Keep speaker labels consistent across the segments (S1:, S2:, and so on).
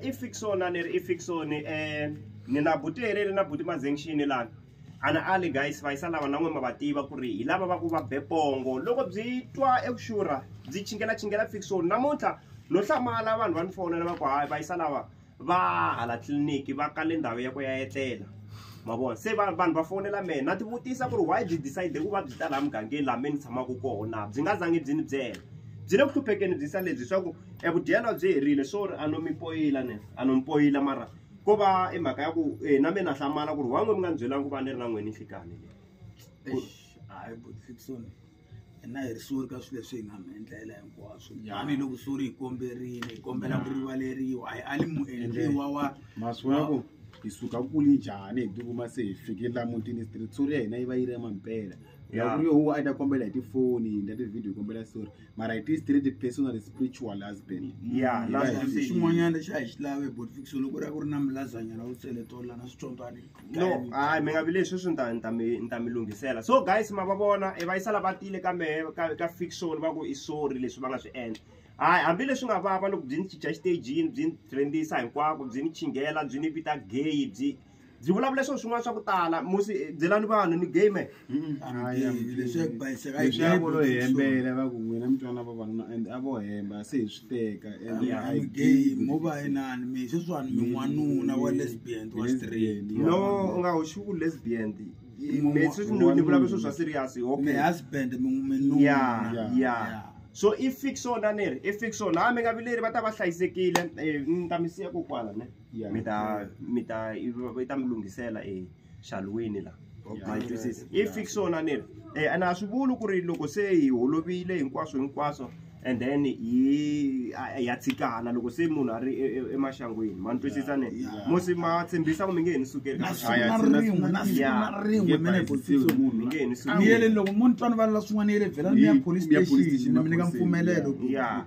S1: i fixon a ni ri i fixon um ni na buti leri ri na buti mazengxini lani ana ali guys va yisa lava na n'we ma va tiva ku ri hi lava va ku va bepongo loko byi twa eku xurha byi chingela chingela fixon namuntlha no hlamala vanhu va ni fonela va ku hayi va yisa lava va hala tliliniki va kale ndhawu ya ku ya etlela ma vona se vanhu va fonela mehe na tivutisa ku ri why byi decide ku va byi ta laha mugangeni laha me ni tshamaka kona byi nga zangi byi ni byela byi le ku hluphekeni byi sa lebyi swa ku E vudyelo a byi herile swo ri a no mi poyila ni a no mi poyila mara ko va i mhaka ya ku e na me na hlamala ku ri why n'we mi nga ni byelanga ku va ni ri na n'we ninhlikani leyi hayi
S2: buti Fiksoni hina hi ri sori ka swilo leswi hi nga mi endlela hinkwaswo tanihiloko sori hi komberile hi kombela ku rivaleriwa hi ali muendliwa wa maswaku
S3: hi suka kuli njhani hi tikuma se hi fikile la mutini street sori ya hina yi va yi ri ya mampela ya ku ri yo huwa a yi ta kombela hi tifoni hi ndla ti-video hi kombela sori mara it is straight personal spiritual husband ya mm, la swi
S1: xin'wanyana lexi
S2: a hi xi lave but fix loko ku ri ku ri na milazanyana u tseletola na switsondzwani no hayi mi
S1: nga vi leswi swi ni ta mi ni ta mi lunghisela so guys ma va vona e va yisa lava tile ka mehe ka ka fiction va ku i sorry leswi va nga swi endla hayi hambileswi nga vava loko byi ni cinca xitejini byi ni trendisa hinkwako byi ni chinghela byi ni vita gay byi byi vulavula swilo swin'wana swa ku tala musi byelani vanhu ni game leswakolo
S2: hi hembela
S3: va ku n'wina mi twana vavanuna and a vo hemba se hi swi teka andmo
S2: va inani mi sweswiwani min'wanuna wa lesbian wa straight no u nga hoxi
S1: ku lesbian ni vulavula swilo swa serious okay husband
S2: minuna ya ya
S1: so i fix ona ni ri i fix ona hambi nga vileri va ta va hlayisekile eh, ni ta mi siya kokwana ne Yeah. mi ta mi ta yi ta mi lunghisela exalweni la ma yi twisisa i fik swona ni ri um and a swi vuli ku ri loko se hi holovile hinkwaswo hinkwaswo and then hi a- ya tshikana loko se munhu a ri e- e- emaxangwini ma ni twisisa ni musi ma tshembisa ku mi nge he ni sukeli ka na siku Aya, na sina- rin'we
S2: na siku Yeah. na rin'we Nge mi nge he bayisisiwi ni
S1: munhu la. ni sukeli yele loko mo ni twanivale
S2: la swin'wana yele vhela ni ya Yi- police mi ya police station station, mi ni nyika maphoriseni, mpfumelelo yeah. ku- Yeah.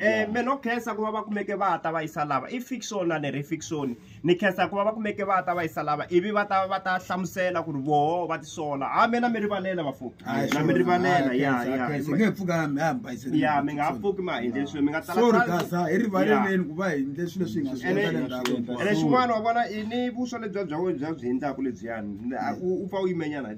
S3: Eh,
S1: me no khensa ku va va kumeke va ta va yisa lava i fiction na leri fiction ni khensa ku va va kumeke va ta va yisa lava ivi va ta va ta hlamusela ku ri voho va tisola ha me na mi rivalela vafo na mi rivalela ya ya nge pfuka
S2: mi ha mi bayisela ya mi nga ha
S1: pfuki ma hindle swilo mi nga tsala sorry kasa hi
S2: rivaleleni ku va hindle swilo swi nga swi endla ndhawu ene xin'wana wa
S1: vona i ni vuswa lebyi bya bya byi hindlaku lebyiyani u pfa u yimenyana hi